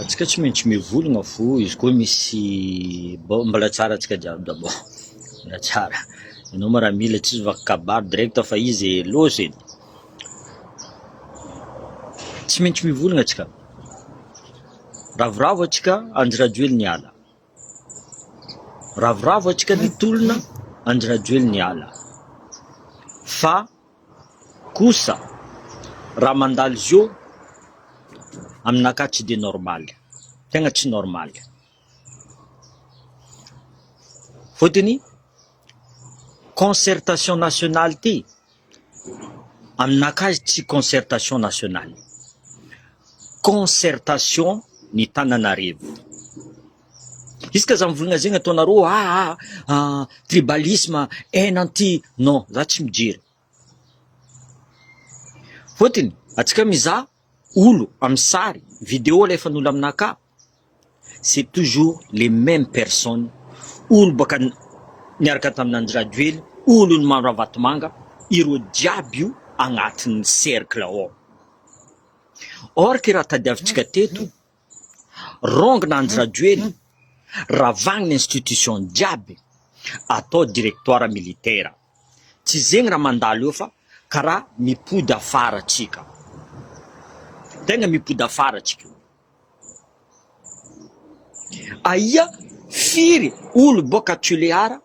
Atsika tsy maintsy mivologna fô izy koa misy bon mbôla tsara atsika jiaby d'abord mbôla tsara anao maramila tsy vaky kabary direct fa izy e loza e tsy maintsy mivologna atsika ravoravo atsika andry rajoely niala Ravoravo antsika ny tolona Andry Rajoelina hiala fa kosa raha mandalo izy io aminakahy tsy dia normaly, tegna tsy normaly. Fotony concertation nationale ty. Aminakahy tsy concertation nationale, concertation ny tananarivo. Izy ka za mivolagna zegny ataonareo aa tribalisme en anti non za tsy mijery. Fôtony atsika mizaha. olo amin'ny sary, video alefan'olo aminà ka, c'est toujours les memes personnes, olo baka niaraka tamin'Andry Rajoely, olon'i Maro Ravatomanga, ireo jiaby io agnatin'ny cercle ao. Or, kiraha tadiavintsika teto, Rongina Andry Rajoely, ravagny ny institution jiaby, atao directoire militaire. Tsy zegny raha mandalo eo fa karaha mipody afara atsika. Tegna mipody afara atsika io. Aia firy olo boaka Tulear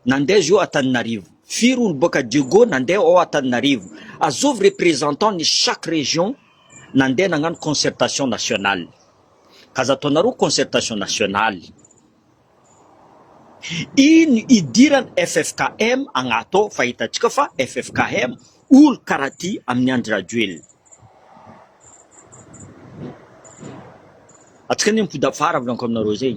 Nandeha zio Antananarivo. Firy olo boaka Dieugo nandeha ao Antananarivo? Azovy représentant ny chaque région nandeha nagnano concertation nationale. Aza ataonareo concertation nationale. Ino idiran ffkm agnato ao fa hitantsika fa ffkm olo karaha ty aminy Andry Rajoelina. Atsika anie mipody afara volanko aminareo zay.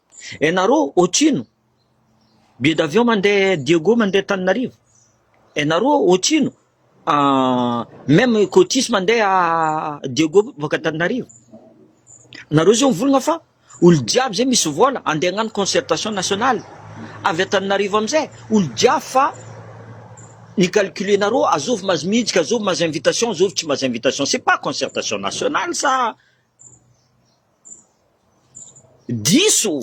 Ianareo otrino? Billet d'avion mandeha Diego mandeha Tananarivo. Ianareo otrino? Ah, même cotis mandeha Diego boaka Tananarivo. Nareo zao mivolagna fa olo jiaby zay misy vola andeha hagnano concertation nationale avy Tananarivo amizay olo jiaby fa ny calcule nareo azovy mazy mijika azovy mazy invitation azovy tsy mazy invitation c'est pas concertation nationale sa Diso!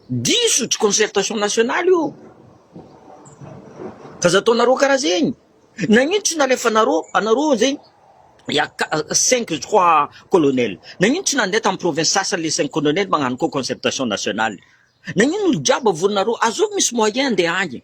Diso! Tsy concertation nationale io fa aza ataonareo karaha zegny. Nagnino tsy nalefanareo, anareo zegny il y a cinq je crois colonel, nagnino tsy nandeha tamin'ny province sasany le cinq colonel magnano koa concertation nationale? Nagnino olo jiaby avorinareo? Azovy misy moyen andeha agny e!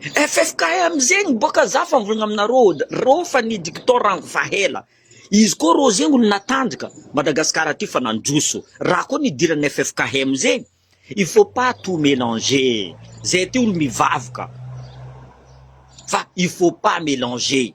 FFKM zegny boka za fa mivolagna aminareo ôd rô fa ny diktaora rango fa hela izy koa rô zegny olo natanjaka Madagasikara ty fa nandroso raha koa nidirany FFKM zegny il faut pas tout melanger e zay ty olo mivavaka fa il faut pas melanger.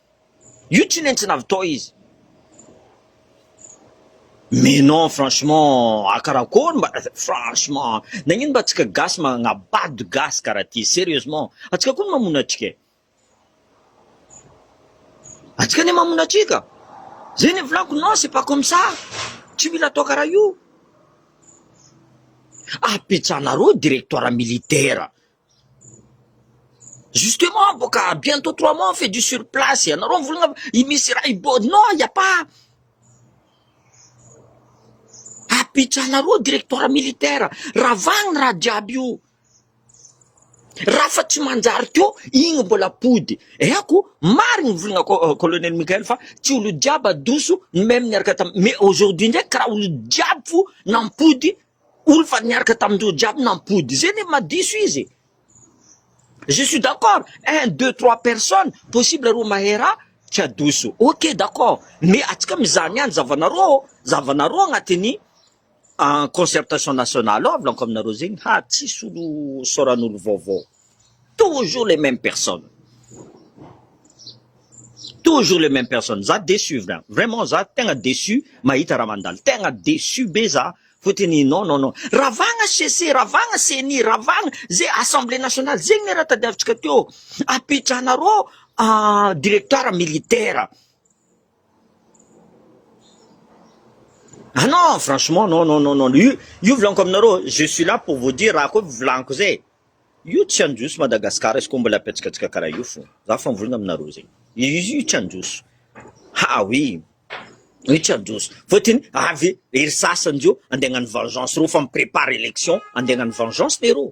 Io tsy nentsina avy tao izy. Mais non franchement a karakory mba franchement nagnino mba atsika gasy magnabado gasy karaha ty serieusement atsika koa no mamona atsika e atsika anie mamona atsika zay ny volako non c'est pas comme ça tsy mila atao karaha io apetsahanareo directoire militaire Justement bo ka bientôt trois mois on fait du sur place, ianareo mivolagna fa i Misy raha hiboaka, non il n'y a pas, apetrahanareo directoire militaire, ravagny raha jiaby io, raha fa tsy manjary ko igny mbola ampody, haiko marigny ny volagna ko- colonel Mickael fa tsy olo jiaby adoso ny meme niaraka tamin-, mais aujourd'hui ndraiky karaha olo jiaby fo nampody Olo fa niaraka tamindreo jiaby nampody zay ne ma diso izy e! Je suis d'accord un deux trois personnes possible ro mahay ra tsy adoso ok d'accord mais atsika mizaha ny any zavanareo ô zavanareo agnatiny concertation nationale ô avolako aminareo zegny ha tsisy olo saoranolo vaovao. Toujours les memes personnes, toujours les memes personnes, za deçu vra, vraiment za tegna deçu mahita raha mandalo, tegna deçu be za fotony non non non, ravagna HCC, ravagna ceni, ravagna ze assemblée nationale, zegny ne raha tadiavitsika teo, apitranarô directoire militaire. Ah non, franchement non non non non, io io volaniko aminareo, je suis là pour vous dire raha koa volaniko zay, io tsy handroso Madagascar izy koa mbola ampihetsikatsika karaha io fo, za fa mivolagna aminareo zegny, io tsy handroso, ha oui, io tsy handroso, fôtony avy ery sasany zao ande hagnano vengeance reo fa mi-prépare élection ande hagnano vengeance leroa.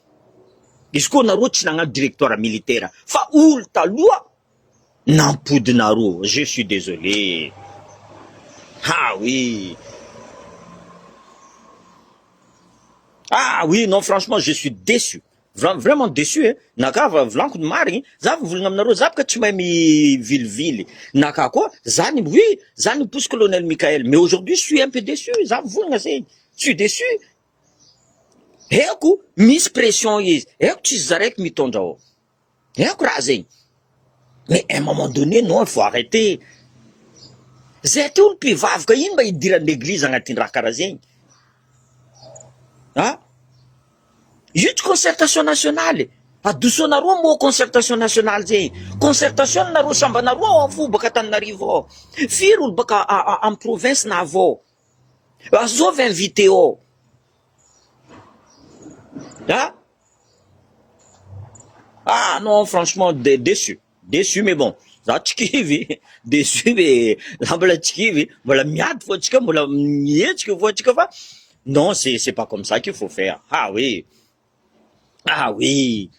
Izy koa nareo tsy nagnano directoire militaire fa olo taloha nampody nareo je suis desolé ha oui ha oui non franchement je suis deçu vraiment deçu eh na ka va volagno ny marigny za va volagna aminareo za boka tsy mahay mivilivily na ka koa za ny oui za ny mposy colonel Mickaël mais aujourd'hui je suis un peu deçu za mivolagna zegny je suis deçu. Haiko misy pression izy, haiko tsisy zaraiko mitondra ô, haiko raha zegny, mais un moment donné non il faut arreter, zay aty olo mpivavaka ino mba hidirany eglizy agnatindraha karaha zegny an, io tsy concertation nationale e, adosonareo moa concertation nationale zegny, concertation anareo sambanareo ao afovoa baka Antananarivo ao, firy olo baka a a am province na avy ao. Azovy ny video a! Ah non franchement de déçu déçu mais bon za tsy kivy déçu ve za mbola tsy kivy mbola miady fo antsika mbola mihetsika fo antsika fa non c'est c'est pas comme ça qu'il faut faire ah oui ah oui.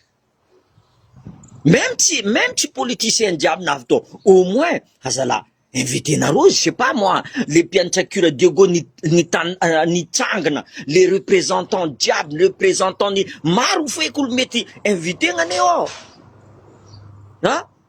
Même tsy même tsy politicien jiaby na avy tao au moins aza la invitenareo izy je sais pas moi le mpiantracure de go ni nitan nitsangana le représentant jiaby le représentant ny maro feky olo mety inviter-na anie ôh an!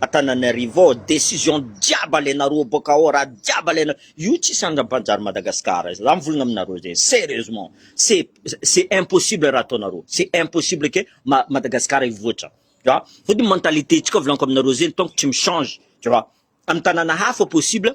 Antananarivo ao decision jiaby alenareo boka ao raha jiaby alenareo io tsisy andra mpanjary Madagascar za mivolagna aminareo zegny serieusement c'est c'est impossible raha ataonareo c'est impossible ke ma Madagascar hivoatra tu vois fotony mentalité tsika volagnoka aminareo zegny tant que tsy mi change tu vois amy tanana hafa possible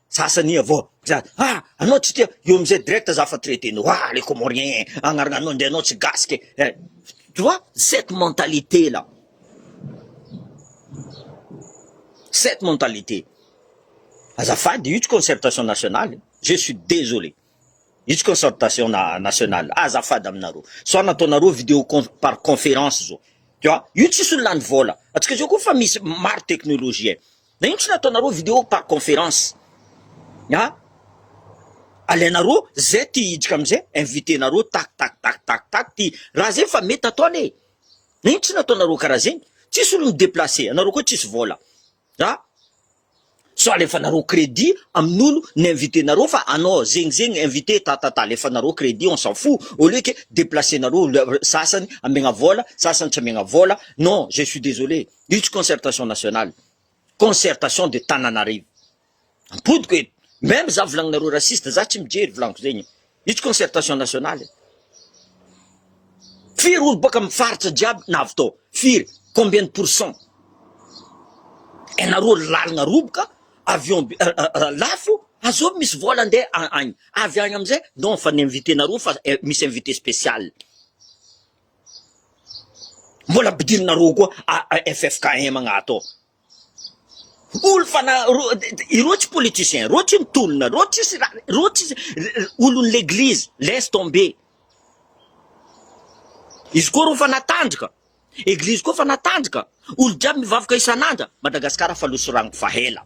Sasany avao dra ah anao tsy tia eo amizay direct za fa traite nao ah le comorien eh agnaragnanao ndre anao tsy gasy ke eh tu vois cette mentalité là cette mentalité azafady io tsy concertation nationale je suis désolé io tsy concertation na- nationale azafady aminareo sao nataonareo vidéo con- par conférence zao tu vois io tsisy olo lany vola atsika zao koa fa misy maro technologie Na ino tsy nataonareo video par conference a! Alainareo zay te hiditra amzay invitenareo tac tac tac tac tac ty raha zay fa mety atao anie! Na ino tsy nataonareo karaha zegny? Tsisy olo mi-deplacer anareo koa tsisy vola a! Sao alefanareo credit amin'olo ni-invitenareo fa anao zegny zegny invite ta ta ta alefanareo credit on s'en fou au lieu que deplacer-nareo sasany amegna vola sasany tsy amegna vola non je suis désolée. Io tsy concertation nationale, concertation de Tananarive. Ampodiko eto, meme za volagninareo raciste, za tsy mijery volaniko zegny e. Io tsy concertation nationale e. Firy olo boaka am faritra jiaby navy tao? Firy? Combien de pourcent? Enareo lalagna roboka, avion be lafo, azovy misy vol ande agny, avy agny amzay non fa ni invite nareo fa misy invite special. Mbola ampidirina roa koa AFFKM agnaty ao. Olo fa na ireo tsy politicien, ireo tsy mitolona, ireo tsisy raha, ireo tsisy olon'ny l'église, laisse tomber. Izy koa reo fa natandrika, église koa fa natandrika, olo jiaby mivavaka isan'andra, Madagasikara fa loso ragno fa hela.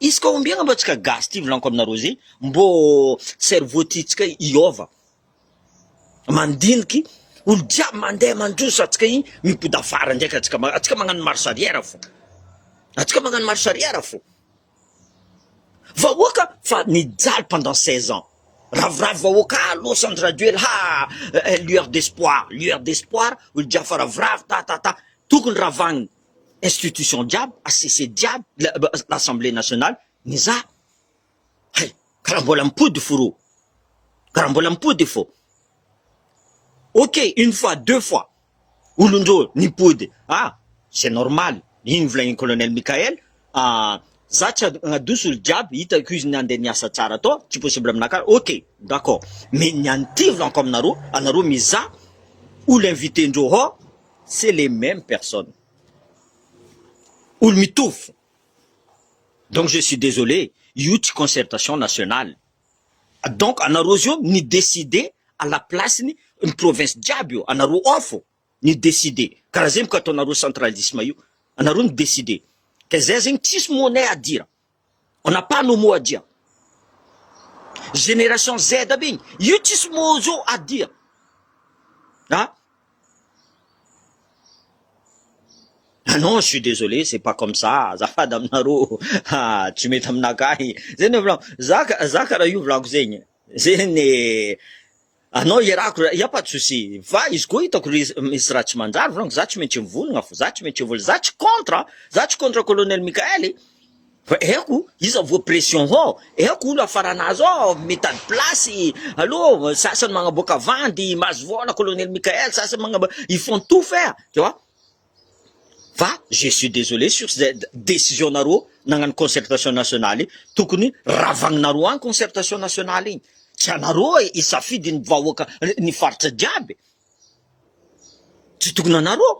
Izy koa ombiagna mbô tsika gasy ty volaniko aminareo zay mbô cerveau ty tsika hiôva mandiniky olo jiaby mandeha mandroso atsika igny mipody afara ndraiky atsika ma atsika magnano marche arrière fô atsika magnano marche arrière fô vahoaka fa nijaly pendant seize ans ravoravo vahoaka ah lôsy andry rajoely haa eh lueur d'espoir lueur d'espoir olo jiaby fa ravoravo ta ta ta tokony ravagny institution jiaby, HCC jiaby, l'Assemblée nationale, mizaha. Hay, karaha mbola mipody fo rô. Karaha mbola mipody fo. Ok, une fois, deux fois, olon-drô nipody. Ah, c'est normal. Iny novolain'i Colonel Mickaël, ah, za tsy hagnadoso olo jiaby, hitako izy nandeha niasa tsara tao, tsy possible aminakahy. Ok, d'accord. Mais ny an'ny TV lanko aminarô, anarô mizaha, olo invité-ndrô hao, C'est les memes personnes. Olo mitovy fona. Donc je suis désolé, io tsy concertation nationale. Donc anareo zio mi-decide à la place ny ny province jiaby io, anareo ao fo ny decide. Karaha zay mko ataonareo centralisme io, anareo mi-decide. Ka zay zegny tsisy money adira. On n'a pas nos mots à dire. Génération Z aby igny, io tsisy mots zao adia. Ah! Ah non, je suis désolé, c'est pas comme ça, azafady aminareo, ah, tsy mety aminakahy. Zay no volako, za ka, za ka raha io volako zegny, zegny. Anao iarahako ra ia pas de souci fa izy koa hitako ry misy raha tsy manjary volagniko za tsy maintsy mivonogna fo za tsy maintsy vola za tsy contre a za tsy contre colonel Mickaël e fa aiko iza voa pression hô aiko olo afarana azy ô mitady place allo sasany magnaboaka vandy mahazo vôla colonel Mickaël sasany magnab- ils font tout faire tu vois. Fa je suis desolé sur ze decision nareo nagnano concertation nationale io, tokony ravagninareo any concertation nationale igny, tsy anareo hisafidy ny vahoaka ny faritra jiaby e, tsy tokony anareo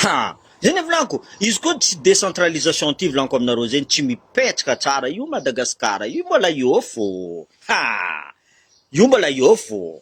ha, zay ny volako, izy koa tsy decentralisation ty volako aminareo zegny tsy mipetraka tsara io Madagascar io mbola eo fô ha, io mbola eo fô.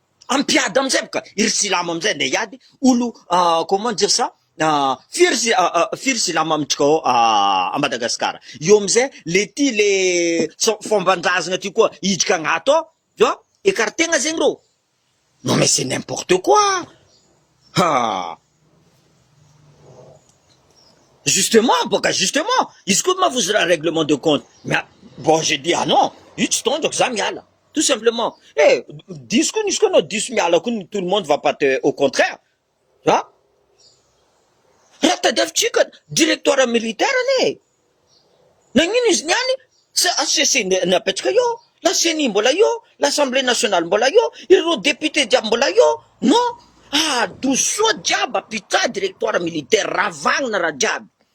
ampiady amizay boka iry silamo amizay nde hiady olo comment dire ça firy firy silamo amintsika ao a Madagascar eo amizay le ty le fomban-drazana ty koa hiditra agnato ao tu vois ecarte-na zegny reo non mais c'est n'importe quoi ha justement boka justement izy koa ma vozy raha règlement de compte bon j'ai dit ah non io tsy tondrako za miala. Tout simplement. Eh, diso koa nisy koa anao diso miala koa ny tout le monde va pas te au contraire. Ha? Raha tadiavintsika directoire militaire anie e. Nagnino izy niany? Sa HCC ny apetraka eo? La CENI mbola eo? L'Assemblée nationale mbola eo? Ireo députés jiaby mbola eo? Non? Adosoa jiaby apitsaha directoire militaire, ravagna raha jiaby.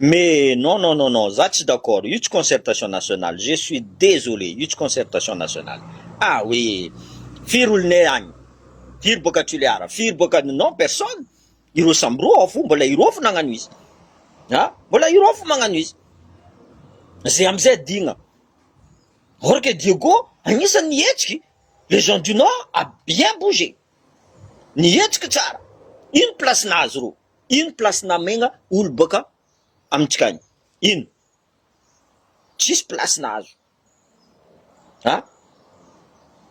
Mais non non non non za tsy d'accord io tsy concertation nationale je suis desolee io tsy concertation nationale ah oui firy olonay agny firy boaka Tulear firy boaka non personne ireo samy roa ao fo mbola ireo fo nagnano izy ah mbola ireo fo magnano izy zay amizay adigna or que Diego agnisany nihetsiky les gens du nord a bien bougé nihetsiky tsara ino place nahazo reo ino place namegna olo boaka amintsika any? ino? tsisy place nahazo a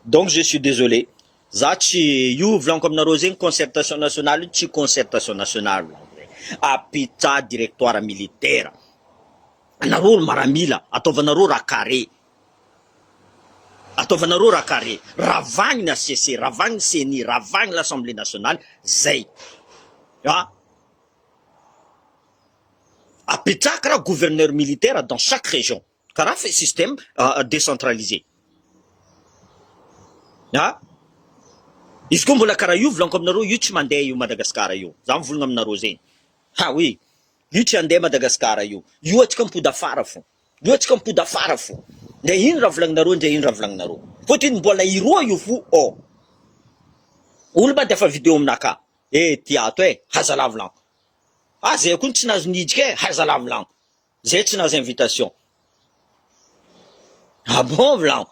donc je suis désolé za tsy io volaniko aminareo zegny concertation nationale io tsy concertation nationale volaniko zegny a pizza directoire militaire anareo olo maramila ataovanareo raha carré Ataovana roa raha carré, ravagny ny HCC, ravagny ny ceni, ravagny l'Assemblée nationale, zay. A. Apetraka raha gouverneur militaire dans chaque région, karaha fe système décentralisé. A. Izy koa mbola karaha io volaniko aminareo io tsy mandeha io Madagascar io, za mivolagna aminareo zegny. Ha oui, io tsy handeha Madagascar io, io atsika mipody afara fô. Mihetsika mipody afara fo. Ndray ino raha volagninareo ndray ino raha volagninareo. Fotiny mbola hiroa io fo ô. Olo mandefa video amina ka. Eh ty ato eh, haza lavilanko. Ah zay koa no tsy nahazo niditra eh, haza lavilanko. Zay tsy nahazo invitation. Ah bon vilanko.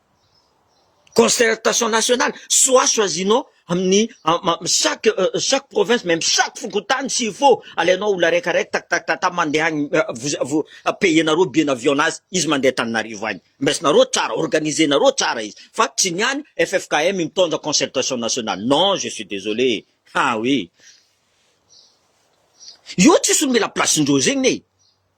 Concertation nationale, soit choisinons amin'ny chaque chaque province même chaque fokontany s'il faut alainao olona araiky araiky tak tak tak mandeha any vous vous payer-nareo billet d'avion nazy izy mandeha Antananarivo any maisinareo tsara organiser-nareo tsara izy fa tsy ny any ffkm mitondra concertation nationale non je suis désolé ah oui io tsisy olo mila place-ndreo zegny e!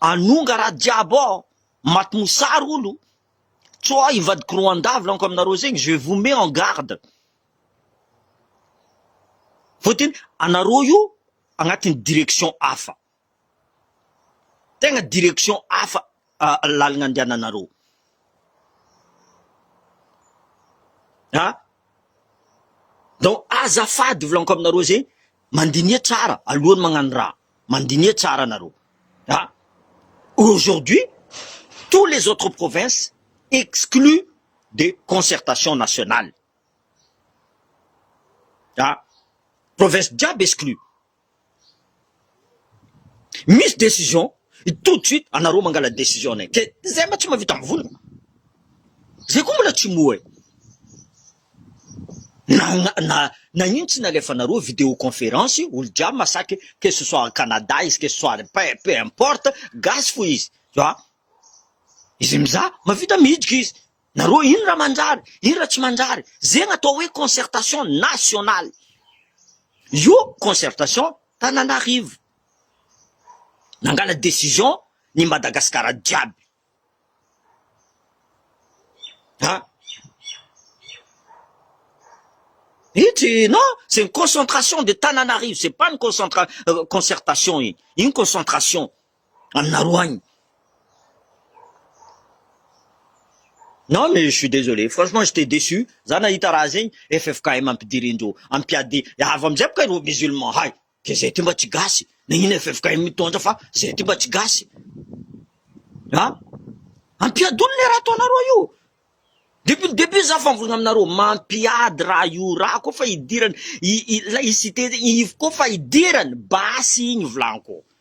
Anonga ra jiaby oh maty mosary olo co ah ivadiko roandavy laniko aminareo zegny je vous mets en garde fotiny anareo io agnatiny direction hafa tegna direction hafa lalagna andehananareo ah donc azafady volaniko aminareo zegny mandiniha tsara alohany magnano raha. Mandiniha tsara nareo a! Aujourd'hui tous les autres provinces exclues de concertation nationale a! Province jiaby exclues. Misy decision tout de suite anareo mangala decision-nay. Ke zay mba tsy mahavita mivonona. Zay koa mbola tsy moa e! Nahitsy nalefa nareo video conference olo jiaby masaky que ce soit Canada izy que ce soit peu importe gasy fo izy fa izy mizaha mavita miditra izy nareo ino ra manjary ino ra tsy manjary zegny atao hoe concertation nationale io concertation Tananarivo nangala decision ny Madagascar jiaby. Hein? Io tsy non, c'est une concentration de Tananarive, c'est pas une concentra euh, concertation iny. Iny concentration aminareo agny. Non mais je suis désolé, franchement j'étais déçu, za nahita raha zegny FFKM ampidirindreo, ampiady, avy amizay boka ireo musulmans hay. Dia zay ty mba tsy gasy, na ino ffkm mitondra fa zay ty mba tsy gasy a! Ampiadony le raha ataonareo io, depuis le debut za fangorona aminareo, mampiady raha io raha koa fa idirany, i i ilay i site i ivo koa fa idirany, basy igny volanko,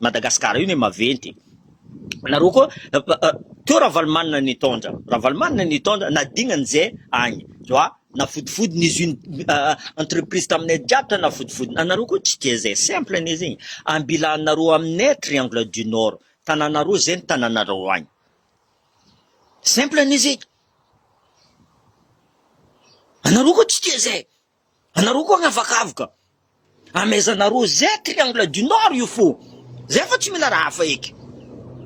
Madagascar io ne maventy e! Nareo koa teo Ravalomanana nitondra, Ravalomanana nitondra nadignany ze agny zwa nafodifody ny usine entreprise taminay jiaby tany nafodifody, anareo koa tsy tia ze simple anie zegny, ambilanareo aminay triangle du nord tananareo ze ny tananareo agny simple anie zegny, anareo koa tsy tia ze. Anareo koa anavakavoka amezanareo zay triangle du nord io fo zay fa tsy mila raha hafa eky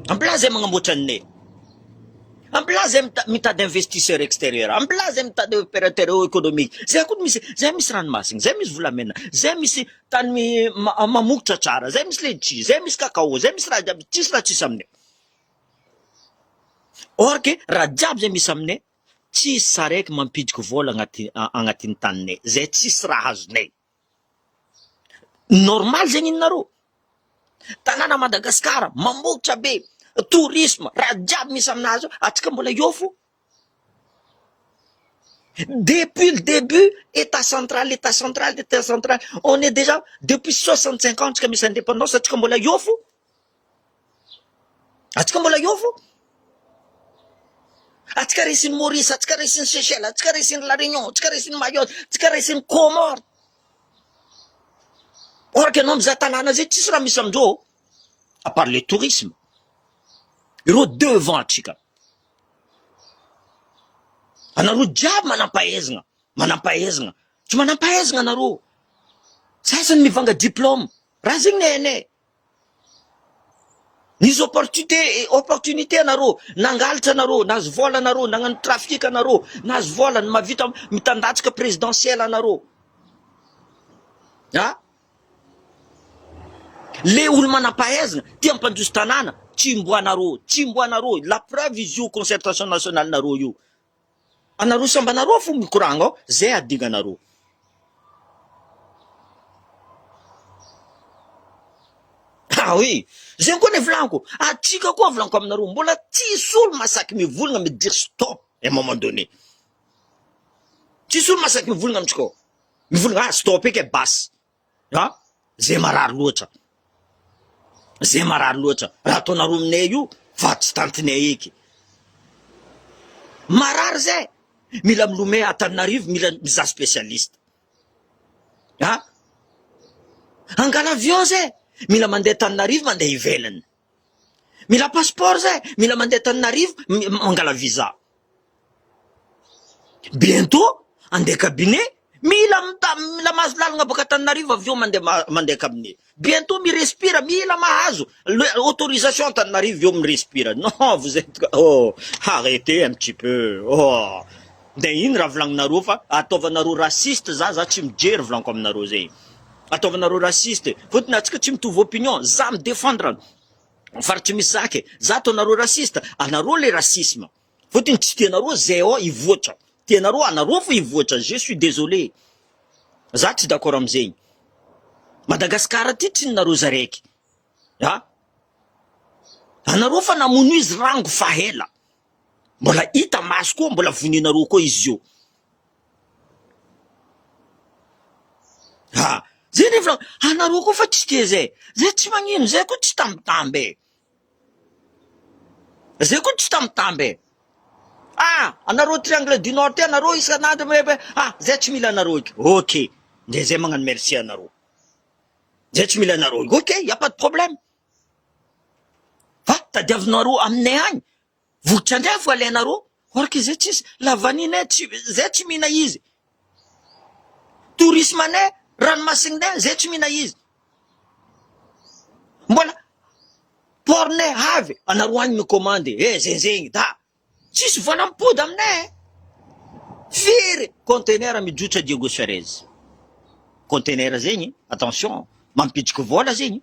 ampla zay magnamboatra ny ney ampla zay mitady investisseur extérieur ampla zay mitady opérateur économique zay koa misy zay misy ranomasina zay misy volamena zay misy tany mamogotra tsara zay misy letchi zay misy cacao zay misy raha jiaby tsisy raha tsisy aminay or que raha jiaby zay misy aminay Tsisy sarety mampidiko vola agnaty agnatin'ny taninay zay tsisy raha azonay. Normal zegny ninareo? Tanàna Madagascar mambotra be, tourisme, raha jiaby misy aminazy ao, atsika mbola eo fo. Depuis le debut, etat central, etat central, etat central, on est dejà depuis soixante cinq ans tsika misy indépendance atsika mbola eo fo. Atsika mbola eo fo. Atsika resin'i Maurice, atsika resin'i Seychelles, atsika resin'i La Réunion, atsika resin'i Mayotte, atsika resin'i Comores. Or que ianao mizaha tanàna zay tsisy raha misy amin'izao à part le tourisme. Ireo devant antsika. Anareo jiaby manam-pahaizana, manam-pahaizana. Tsy manam-pahaizana anareo. Sasany mivanga diplôme. Raha zegny ny hainay. Nisy opportunité opportunité anareo, nangalitra anareo, nahazo vola anareo, nagnano trafic anareo, nahazo vola, ny mahavita mitandatsika présidentielle anareo. Ha? Le olo manam-pahaizana, tia hampandroso tanàna, tsimbo anareo, tsimbo anareo, la preuve izy io concertation nationale nareo io. Anarosy ambana roa fo mikoragna ao zay adignanareo. Ah oui, zegny koa nivolanko, atsika koa volanko aminareo, mbola tsisy olo masaky mivolagna mi dire stop un moment donné. Tsisy olo masaky mivolagna amitsika ao, mivolagna ah stop eky e basy, an! Zay marary loatra, zay marary loatra, raha ataonareo aminay io fa tsy tantinay eky, marary zay, mila milomay Antananarivo, mila mizaha spécialiste an! Hangala avion zay, mila mandeha Antananarivo, mandeha ivelany. Mila passeport zay, mila mandeha Tananarivo mangala visa. Bientôt andeha cabinet, mila mila mahazo lalagna baka Tananarivo avy eo mandeha mandeha cabinet. Bientôt mi respire, mila mahazo autorisation Antananarivo avy eo mi respire. Non, vous etes oh, arretez un petit peu. Oh. Dia ino raha volagninareo fa ataovanareo raciste za za tsy mijery volaniko aminareo zay. ataovanareo raciste e, fotony atsika tsy mitovy opinion, za mi defendre an faritry mizaka e, za ataonareo raciste anareo le racisme, fotony tsy tianareo zao hivoatra, tianareo anareo fo hivoatra, je suis desolé za tsy d'accord amzegny, Madagascar ty tsy ninareo za raiky a, anareo fa namono izy rango fa ela, mbola hita maso koa mbola vonenareo koa izy io, Ha! zay nefa anareo koa fa tsy tia zay, zay tsy magnino, zay koa tsy tambitamby e! zay koa tsy tambitamby e! ah! anareo triangle du nord ty anareo isan'andro mirefa hoe ah! zay tsy mila anareo eky, ok de zay magnano merci anareo, zay tsy mila anareo eky, ok il n'y a pas de problème fa tadiavinareo aminay agny Vokitra ndray vao alainareo orca izay tsisy la vanille tsy izay tsy mihina izy tourisme ne ranomasiny ne izay tsy mihina izy mbola port ne avy anareo any ny commande e eh, zenzegny da tsisy vola mipody amine eh. firy conteneur mijotra Diego Suarez conteneur zegny attention mampitsiky vola zegny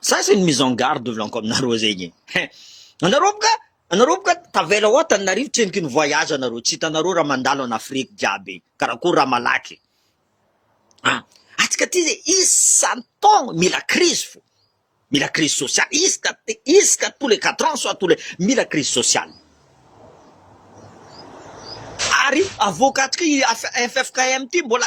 Ça c'est une mise en garde devolanko aminareo zegny e. Anareo boka, anareo boka tavela ao Antananarivo trenoky ny voyage anareo, tsy hitanareo raha mandalo en Afrique jiaby, karakory raha malaky. Ah, antsika aty ze isan-taogno mila crise fô, mila crise sociale, isaka isaka tous les quatre ans soit tous les mila crise sociale. Ary avoakantsika i FFKM ty mbola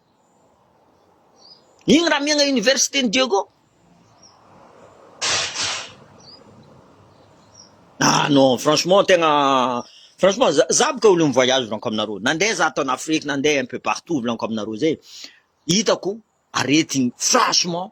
Iny raha miaina université ny Diego. Ah non, franchement tegna franchement za za boka olo mi-voyage volaniko aminareo. Nandeha za tao en Afrique, nandeha un peu partout volaniko aminareo zay. Hitako aretigny franchement.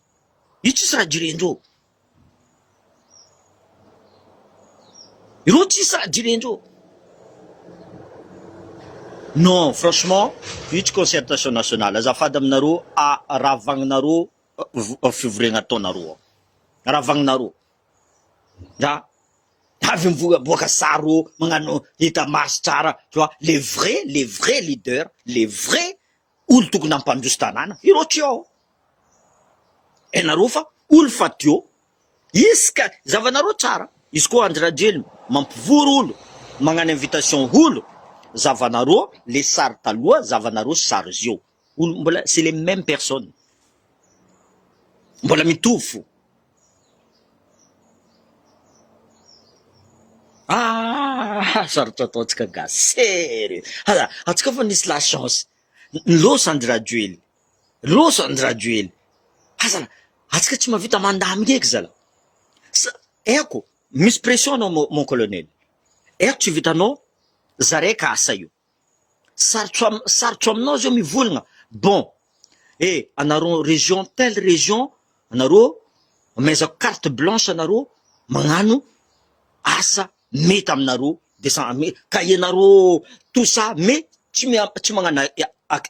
Io tsisy raha direndreo. Ireo tsisy raha direndreo. Non, franchement, io tsy concertation nationale. Azafady aminareo, ravagninareo fivoriana ataonareo ao. Ravagninareo. Nga, avy mivoaboaka sary reo, magnano hita maso tsara, tu vois, les vrais, les vrais leaders, les vrais olo tokony hampandroso tanàna ireo trio ao enareo fa olo fadio izy ka zavanareo tsara izy koa Andry Rajoelina mampivory olo magnano invitation olo zavanareo le sary taloha zavanareo sy sary zio olo mbola c'est les meme personne mbola mitovy fo Ah! Sarotra ataontsika gasy sery. Hala, antsika fa nisy la chance. Losa andry Rajoely. Losa andry Rajoely. Hazala, antsika tsy mavita mandamy eky zala. Sa, eko, misy pression anao mon colonel. Eko tsy vitanao, zare kasa io. Sarotra sarotra aminao zao mivolagna. Bon eh anareo région telle région anareo amezako carte blanche anareo magnano asa mety aminareo de sa me ka ianareo tout ça me tsy mia tsy magnana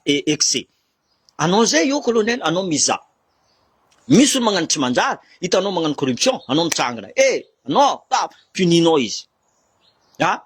excès. Anao zay eo colonel anao mizaha. Misy olo magnano tsy manjary hitanao magnano corruption anao mitsangana eh anao ah punis-nao izy. Ah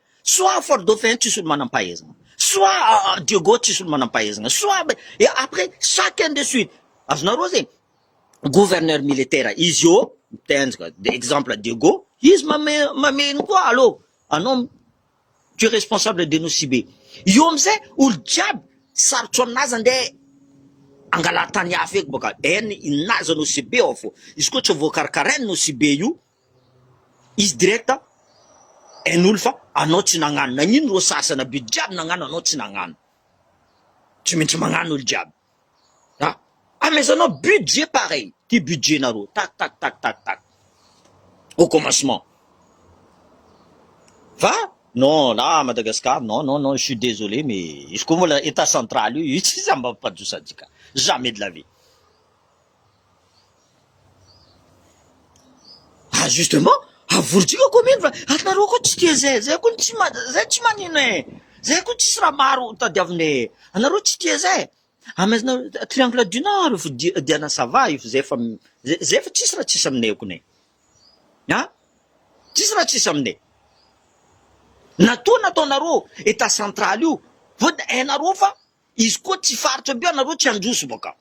Soit Fort Dauphin tsisy olo manam-pahaizana. Soit ah, ah, Diego tsisy olo manam-pahaizana. Soit be- et après chacun de suite. Azonareo zegny. Gouverneur militaire izy eo mitenjika de exemple Diego, izy mame mameno koa allo anao m- tu es responsable de nos sibe. Io amizay olo jiaby sarotro aminazy andeha angala tany hafa eky baka en inazy nos sibe ao fo. Izy koa tsy voakarakarain nos sibe io Izy direct a hain'olo fa anao tsy nagnano, nagnino rô sasana be jiaby nagnano anao tsy nagnano? tsy maintsy magnano olo jiaby a! amezanao budget pareil ty budget nareo tak tak tak tak tak au commencement fa non là à Madagascar non non non je suis désolé mais izy koa mbola etat central io io tsy samy mampipadosa antsika jamais de la vie. Ah justement, avoridrika commune fa anareo koa tsy tia zay, zay koa tsy ma- zay tsy manino e, zay koa tsisy raha maro tadiavina e, anareo tsy tia zay, amezana triangle du nord io fa dia- diana ça va io fa zay efa m- zay zay efa tsisy raha tsisy aminay kone e, an, tsisy raha tsisy aminay, na toa nataonareo etat central io vao dia hainareo fa. Izy koa tsy faritra be anareo tsy androso bakao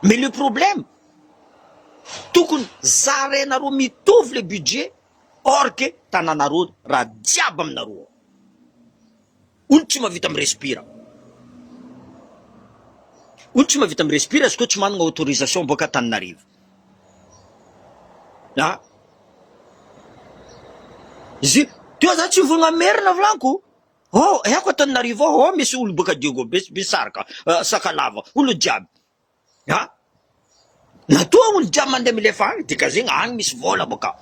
mais le problème tokony zarainareo mitovy le budget or que tananareo ra jiaby aminareo ao olo tsy mavita mi-respire olo tsy mavita mi-respire izy koa tsy managna autorisation boaka Antananarivo a izy teo za tsy mivogna merina vlaniko Hoo eako Antananarivo ao ao misy olo boka Diego be sy be saroka sakalava olo jiaby a matoa olo jiaby mande milefa any dikazegna any misy vola boka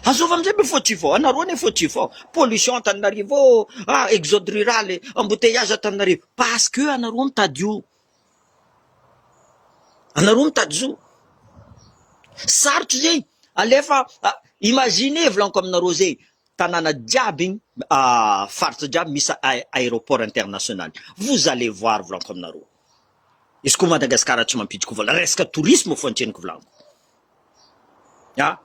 azova amizay be fautif ao anareo anie fautif ao pollution Antananarivo a exode rural embouteillage Antananarivo parce que anareo mitady io anareo mitady zo sarotra zegny alefa imagine volanko aminareo zegny tanàna jiaby igny faritra jiaby misy aéroport international vous allez voir volanko aminareo izy ko Madagascar tsy mampidiko vola resaka tourisme fo antreniko volanko a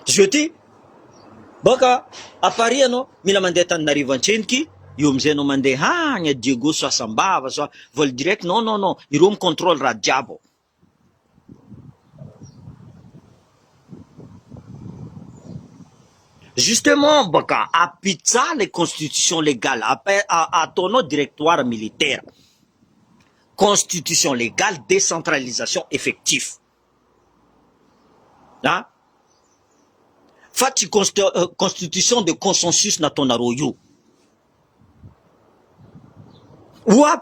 zio ty boka à Paris anao mila mandeha Antananarivo antreniky io amizay anao mandeha agny à Diego so Asambava so vol direct non non non ireo mi contrôle raha jiaby ao Justement baka à pizza le constitution légale ataonao directoire militaire constitution légale décentralisation effectif an fa tsy constitution de consensus nataonareo io oa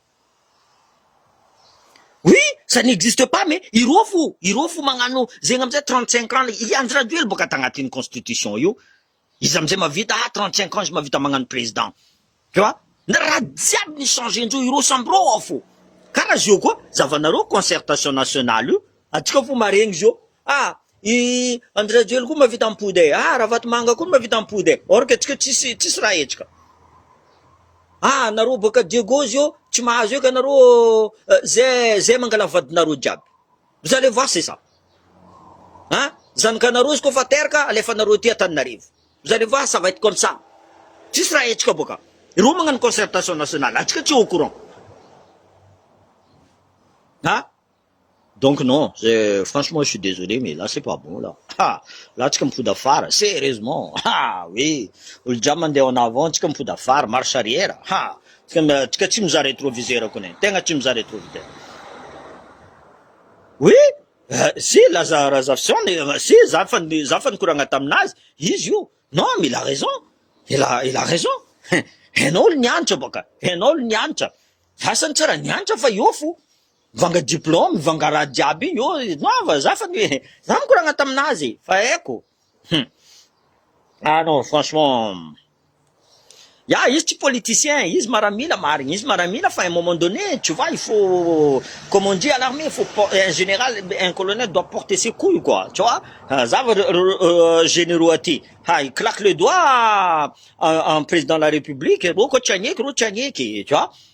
Oui ça n'existe pas mais ireo fo ireo fo magnano zegny amizay trente cinq ans le i andry rajoely boka tagnatiny constitution io izy amizay mavita ah trente cinq ans izy mavita magnano president tu vois na raha jiaby ni changer ndreo ireo samby reo ao fo kara zio koa zavanareo concertation nationale io atsika fo maregny zio Ah! i Andry Rajoely koa mahavita mipody e! ah! Ravatomanga koa mahavita mipody e! or que tsika tsisy tsisy raha hetsika! ah! nareo boaka Diego zio tsy mahazo eka nareo ze ze mangala vadinareo jiaby! vous allez voir c'est ça! ah! zanakanareo izy koa fa terka alefanareo aty Antananarivo! vous allez voir ça va être comme ça! tsisy raha hetsika boaka! ireo magnano concertation nationale antsika tsy au courant! ah! Donc non, franchement je suis desolé mais là c'est pas bon là, ha! là tsika mipody afara, serieusement, ha! oui, olo-jiaby mandeha en avant tsika mipody afara, marche arrière, ha! tsika tsy mizaha retroviseur kony e, tegna tsy mizaha retroviseur, oui, si laza razafison, si za efa za efa nikoragna taminazy, izy io, non il a raison, il a il a raison, hein, enao olo nianatra bôka, enao olo nianatra, asa ny tsara nianatra fa eo fo, Mivanga diplôme, mivanga raha jiaby io noava za fa ny za mikoragna taminazy e fa haiko hum ah non franchement ya izy tsy politicien izy maramila marigny izy maramila fa un moment donné tu vois il faut comme on dit à l'armée il faut un général un colonel doit porter ses couilles quoi tu vois za va généraux aty ha i claque le doigt en président de la république reo koa tsy agneky reo tsy agneky tu vois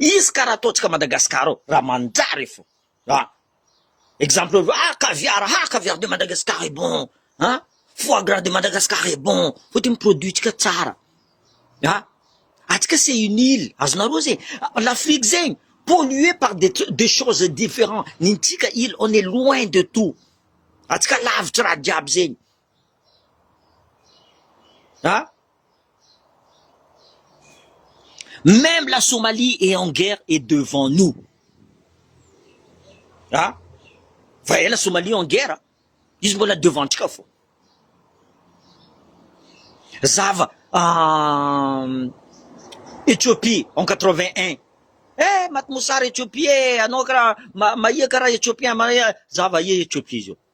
Izy ka raha ataontsika Madagascar ao raha manjary e fo a! exemple hoe ah caviar ah caviar de Madagascar est bon a! foie gras de Madagascar est bon fa tena produit tsika tsara a! atsika c'est une ile azonareo zay l'Afrique zegny polluer par des trucs des choses differents ny antsika ile on est loin de tout atsika lavitra raha jiaby zegny An? Même la Somalie est en guerre et devant nous. An? Fa ela Somalie en guerre, izy mbola devant-ntsika foana. Zava Ethiopie en 81. Eh, maty mosary Ethiopie eh, anao karaha, mahia karaha Ethiopien, mahia, zava aia Ethiopie zao.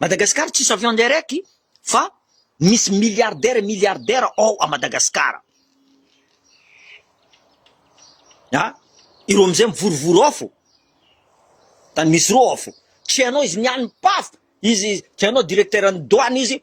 Madagascar tsisy avion direct fa misy milliardaire et milliardaire ao a Madagascar a ireo amizay mivorivory ao fo tany misy reo ao fo tsy hainao izy mialim-pafo izy tsy hainao directeur ny douane izy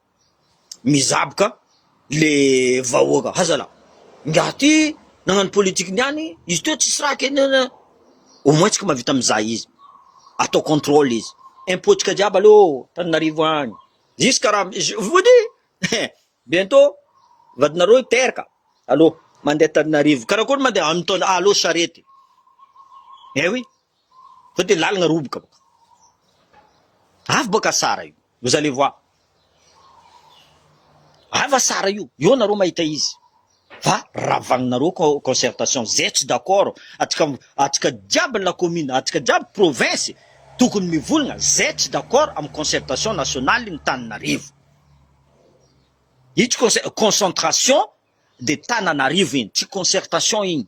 mizaboka le vahoaka hazala ingahy ty nagnano politique niany izy teo tsisy raha kenena au moins tsika mahavita mizaha izy atao contrôle izy impôt tsika jiaby aleo Antananarivo any jusque raha je vous dis eh bientôt vadinareo hiteraka aleo mandeha Antananarivo karakory mandeha aminy taona aleo charette eh oui Zao dia lalina roboka baka. Avy baka sara io. Vous allez voir. Ava sara io. Eo nareo mahita izy. Fa ravagninareo concertation. Zay tsy d'accord. Atsika, atsika jiaby ny la commune, atsika jiaby province tokony mivolagna. Zay tsy d'accord amin'ny concertation nationale ny Tananarivo. Io tsy concentration de Tananarivo iny. Tsy concertation iny.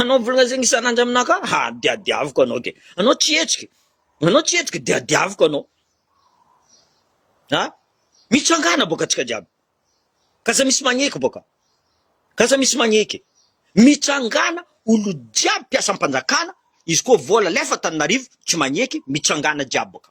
Anao volazigny isan'andro aminah ka ha diadiaviko anao ke anao tsy hetsiky anao tsy hetsiky diadiaviko anao ha mitsangana boka atsika jiaby k'aza misy magneky boka k'aza misy magneky mitsangana olo jiaby mpiasam-panjakana izy koa vola alefa Antananarivo tsy magneky mitsangana jiaby boka.